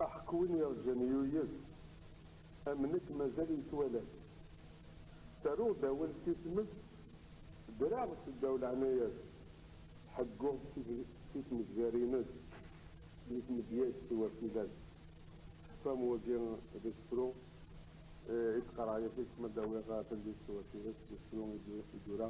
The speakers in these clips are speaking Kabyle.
Aḥeq win irǧan yuyes, am nekk mazal yettwala-t. Ttaruɣ-d awal si tmes, ddreɣ seddaw leɛnaya-s, ḥegguɣ si tmezzarin-s, di tmedya-s tiwafila-s. Tefam wagi d asefru i d-qqareɣ yagi kem ad d-awiɣ tallit tiwafila-s d usefru i d-yura.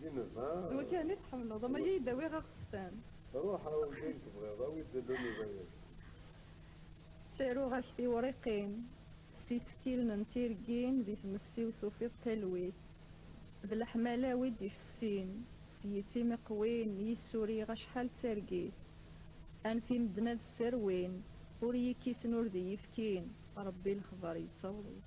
D inuba. D wakan i tḥemmleḍ, ama iyi-d awiɣ aɣesfan. Ruḥ a wayen tebɣiḍ, awi-d inuba-agi. Ttaruɣ-ak tiwriqin s isekkilen n tirgin di tmessi-w tufiḍ talwit d leḥmala-w i d-ifessin s yitim iqwin yis-s uriɣ acḥal d targit anef i medden ad sserwin ur yi-kkisen ur d iyi-fkin Rebbi lexbar yettaweḍ-it.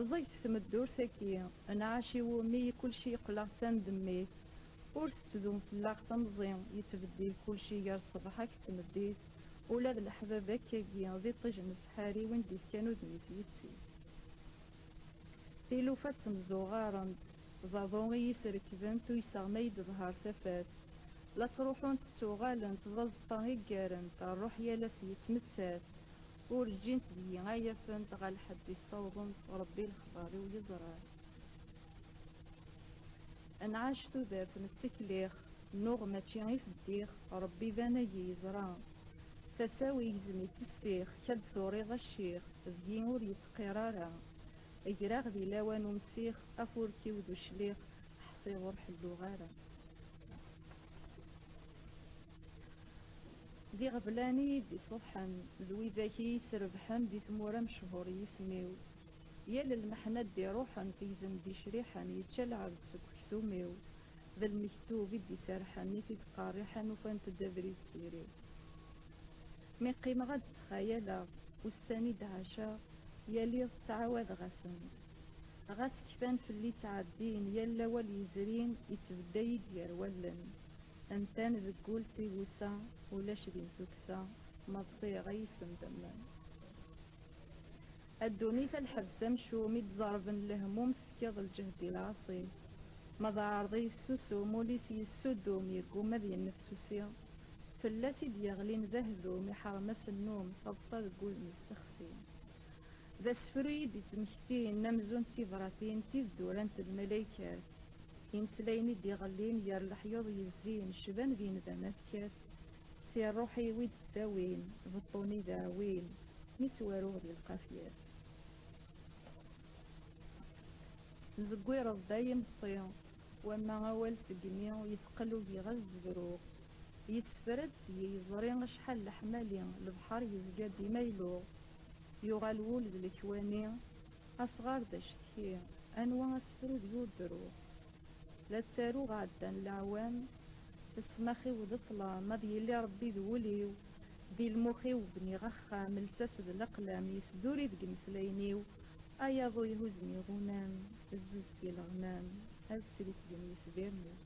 Rẓeget tmeddurt aki, nɛac i wumi i kulci yeqleɣ d tandemmit, ur tettdum fell-aɣ temẓi, yettbeddil kulci gar ṣṣbeḥ ak d tmeddit, ula d leḥbab akk agi d iṭij n ssḥari win d-ifkan udem-is yetti. Tilufa ttemzuɣarent, d aḍu i yi-srekbent uyseɣ ma yi-d-tehher tafat, la ttruḥunt ttuɣalent, d azeṭṭa i ggarent, rruḥ yal ass yettmettat, Ur ǧǧint deg-i ay afent ɣer lḥedd i ssawḍent, Rebbi lexbar-iw yeẓra-t. Nɛac tudert nettekliɣ, nuɣ mačči i feddiɣ, Rebbi d anagi yeẓra. Tasa-w igzem i tt-ssiɣ, kal turiḍ acciɣ, deg-i ur yettqir ara. Greɣ di lawan umsiɣ, afurk-iw d ucliɣ, ḥṣiɣ ur ḥelluɣ ara. D iɣeblan i yi-d-iṣuḥḥen, d widak i yi-srebḥen di tmura mechuṛ yisem-iw. Yal lmeḥna d-iṛuḥen, tegzem d-icriḥen, yečča lɛebd seg uksum-iw, d lmektub i d-iserḥen, i t-id-qerriḥen ufant-d abrid s iri. Mi qqimeɣ ad d-ttxayaleɣ ussan i d-ɛaceɣ, yal iḍ ttɛawadeɣ-asen-d. Ɣas kfan fell-i ttɛeddin, yal awal yezrin ittbedda-yi-d gar wallen, Amtan deg wul d tigusa, ulac din tuksa, ma d ṣiɣa yis-m temmen. A ddunit a lḥebs amcum i d-ẓerben lehmum tefkiḍ lǧehd i lɛaṣi, ma d aɛerḍi yessusum ul-is yessuddum yegguma ad yennefsusi, fell-as i d-yeɣlin d ahdum iḥerm asennum taḍsa deg wudem-is texsi. D asefru i d-ittmektin amzun d tibratin tibeddurant d malaykat, imeslayen i d-iɣellin ger leḥyuḍ yezzin cban d yindamat kat, si rruḥ-iw i d-ttawin beṭṭu-nni d aɛwin mi ttwaruɣ di lqafyat. Tezeggireḍ-d ay imeṭṭi Wamma awal segmi yetqel ugiɣez zebruɣ, yessefra-d s yiẓri acḥal leḥmali, lebḥer yezga dima iluɣ, yuɣal wul d lekwani, asɣar d acetki, anwa asefru deg ur d-ruɣ? La ttaruɣ ɛeddan leɛwam, ssmax-iw d ṭṭlam, ad yili Rebbi d wul-iw, Di lmux-iw bniɣ axxam, lsas d leqlam, yesduri deg imeslayen-iw, ay aḍu ihuzen iɣunam, zzuz d ileɣman, ad tt-refden yitbiren-iw.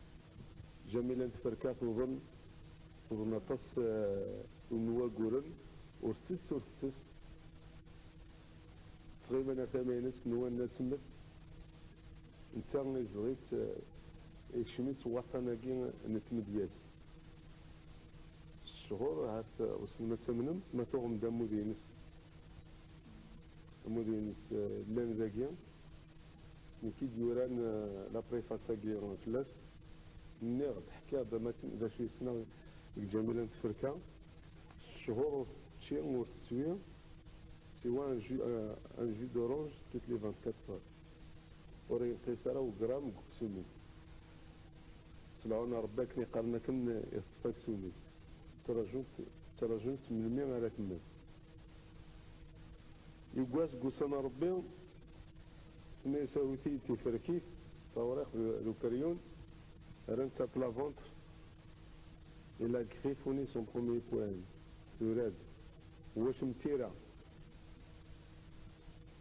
Jamila n Tferka tuḍen, tuḍen aṭas n waguren, ur tettess ur tettess, ttɣiman ar tama-ines nwan ad temmet, netta izdeɣ-itt, ikcem-itt waṭṭan-agi n tmedyazt. S cchur, ahat wissen ma ttamnem, ma tuɣem-d ammud-ines, ammud-ines llan dagi, nekk i d-yuran la préface-agi fell-as, nniɣ-d, ḥkiɣ-d am akken d acu i ssneɣ deg Jamila n Tferka, s cchur ur tečči ur teswi siwa un jus, un jus d'orange toutes les vingt-quatre heures, ur yenqis ara ugramme deg uksum-is. Smeɛun a Rebbi akken i qqaren akken i teṭṭef aksum-ik. Ttrajunt, ttrajunt melmi ara temmet. Yewwa seg ussan a Rebbi, tenna-yas awit-iyi-d tiferkit, tawriqt d ukeryun, rran ça plat ventre, il a griffonné son premier poème, tura-d, Wacem tira.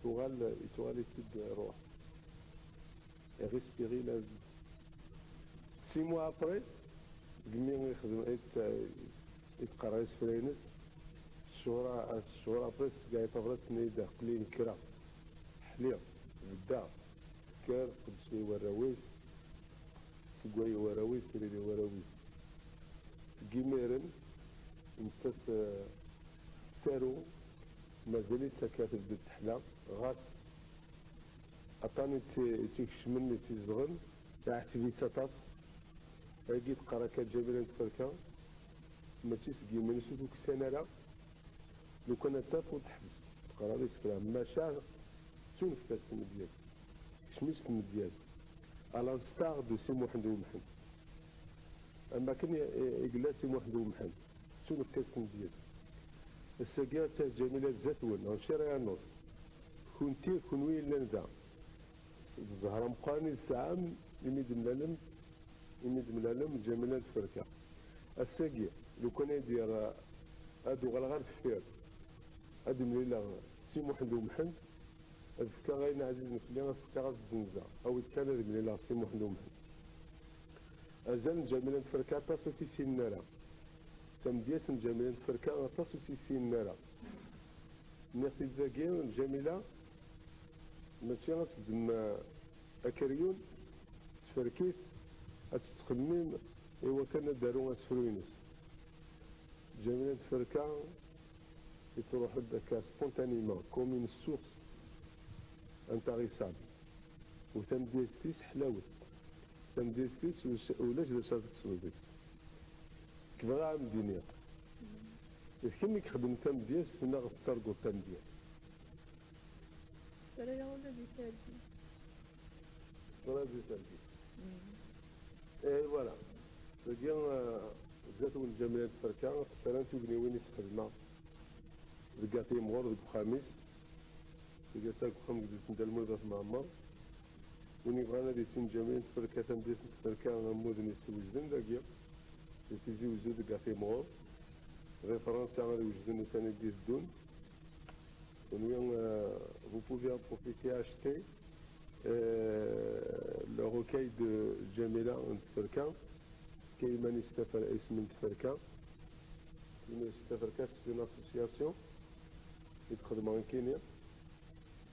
tuɣal ittuɣal-itt-id rruḥ et respirer la vie. Six mois après, deg mi ixdem itqerra isefra-ines, cchur cchur après tsegga-yi tabrat tenna-yi-d aql-i nekreɣ, ḥliɣ, beddeɣ, tekker teqdec-iyi warraw-is, tsegga-yi warraw-is, trid-iyi warraw-is. Seg yimiren, nettat tettaru Mazal-itt akka tebded teḥla, ɣas aṭan i tt-ikecmen, i tt-izedɣen, iɛetteb-itt aṭas. Ayagi teqqar akka Ǧamila n Tferka, mačči seg yiman-is ur tukksan ara, lukan ad taf ur teḥbes teqrar isefra, maca tettunefk-as tmedyazt, tekcem-itt tmedyazt, à l'instar de Si Muḥend Umḥend. Am wakken i yella Si Muḥend Umḥend. D tumekkazt n Bgayet. Ass-agi ad taf Jamila zdat-wen, ɣef Cariɛ Iɛennuṣ. Kunti, kunwi yellan da, d zzher-a meqqren i tesɛam imi d-mlalem, imi d-mlalem Jamila d Tferka. Ass-agi, lukan ay d-yerr, ad uɣaleɣ ar deffir, ad d-mlileɣ Si Muḥend U Mḥend, ad fkeɣ ayen ɛzizen fell-i, ad fkeɣ ad t-zzenzeɣ. Awi-d kan ad mlileɣ Si Muḥend U Mḥend. Azal n Ǧamila n Tferka aṭas ur t-issinen ara. Tamedyazt n Ǧamila n Tferka aṭas ur tt-issinen ara. Nniɣ-t-id dagi, Ǧamila mačči ad teddem akeryun tferk-it, ad tettxemmim iwakken ad d-taru asefru-ines. Ǧamila n Tferka ittruḥ-d akka spontanément, comme une source intarissable, u tamedyazt-is ḥlawet. Tamdilt-is ulac d acu ara tekseḍ deg-s. Nekk bɣiɣ ad am-d-iniɣ, d kemm i ixeddmen tamedyazt neɣ tettarguḍ tamedyazt? Ssefrayeɣ ula di targit. Ssefrayeɣ di targit. Ihi wala, dagi zdat wenǧamel n tferka tefra n tugniwin i s-xedmeɣ deg At Yimɣur deg uxxam-is, deg At Agexxam deg Delt n Dda Lmulud At Mɛemmer, Win yebɣan ad yessin Ǧamil, tferka tamdilt n tferka ammuden yessewjden dagi di Tizi Uzzu deg At Imɣur. Di Fransa ad wejden ussan i d-iteddun. Kunwi, vous pouvez en profiter acheter le recueil de Ǧamila n tferka, tefka iman-is isem n tferka. Iman-is tferka c'est une association i d-xedmeɣ nekkini.